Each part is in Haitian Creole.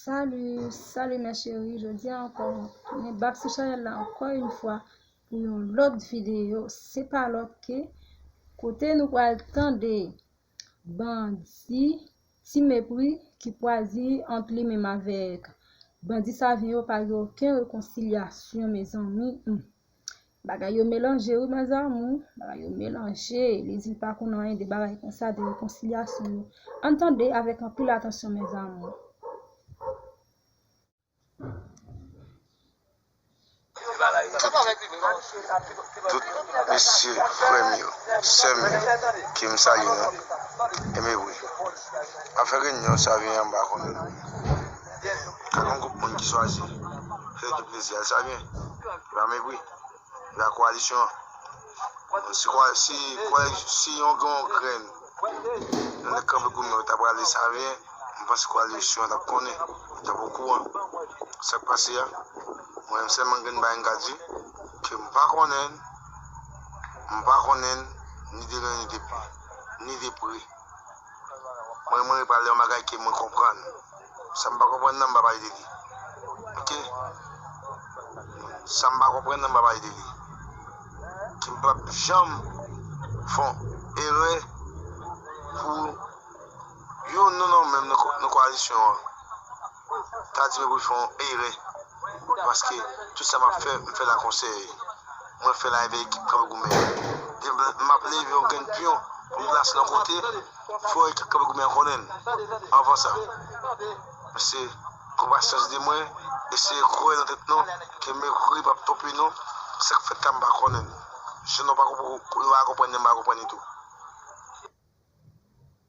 Salut salut mes cherie jodia ankò mwen tounen bak sou chanel la ankò yon fwa pou yon lòt videyo se pa lòt ke kote nou pral tande bandi ti mepri ki pwazi ant li menm avèk bandi sa vyen yo pa gen oken rekonsilyasyon mezanmi Bagay yo melanje wi mes amour, bagay yo melanje, li di li pa konn anyen de bagay konsa, de rekonsilyasyon yo, ann tande avèk anpil atansyon mes amour. Tout mesye frèm yo, sèm yo ke m salye nou, enben wi, afè reyinyon sa vini anba kò nou. Gen ka gen gwoup moun ki chwazi fè ekip plezi a, sa byen, yo pa mepri, yo pa koalisyon an. Si yon grenn nan nèg kanpe kou mwen yo ta prale sa byen, m panse koalisyon an t ap konnen, yo t ap okouran sa k pase a. Mwen menm sèlman gen yon bagay m ka di, ke m pa konnen, m pa konnen ni de lwen ni de lwen, ni de pre. Mwen renmen pale yon bagay ke mwen konprann. Sa m pa konprann nan m pa pale de li. Ok. Sa m pa konprann nan m pa pale de li. Ke m pap janm fè yon erè pou yon non nan menm nan koalisyon an. ta di mwen pou m fè yon erè paske tout sa m ap fè, m fè l ak yon sèye. Mwen fè l avèk ekip kanpe goumen an. Demen, m ap leve yon grenn pyon pou m plase l yon kote, fò ekip kanpe goumen an konnen l anvan sa. Mesye, pran pasyans de mwen, eseye kwè nan tèt nou ke Mekuri p ap twonpe nou, sa k fèt la m pa konnen l. Jan nou pa konprann li, m pa konprann li tou.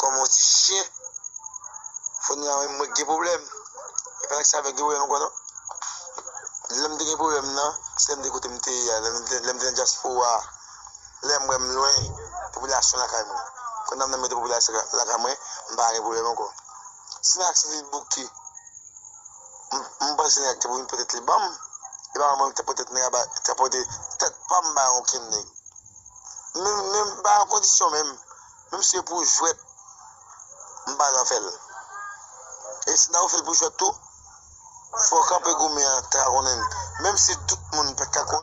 Kòm yon ti chien. Fony a menm mwen k gen pwoblèm. E pa sa avèk gen pwoblèm ankò non. Lè m te gen pwoblèm nan, se lè m te kote m te ye a. Lè m te nan dyaspora. Lè m wè m lwen popilasyon lakay mwen. Kòm nan m nan mete popilasyon lakay mwen, m pa gen pwoblèm ankò. Si nan Atilit bouke, m panse nèg te pou vin pote tèt li ban m. E pa mwen menm ki t ap pote tèt nèg la. Te pote tèt pa m ba yon okenn nèg. Menm menm pa yon kondisyon menm menm se pou jwèt m pa nan fèl e si nan ou fèl pou jwèt tou fò kanpe goumen an ta ka konnen menm si tout moun pat ka konnen.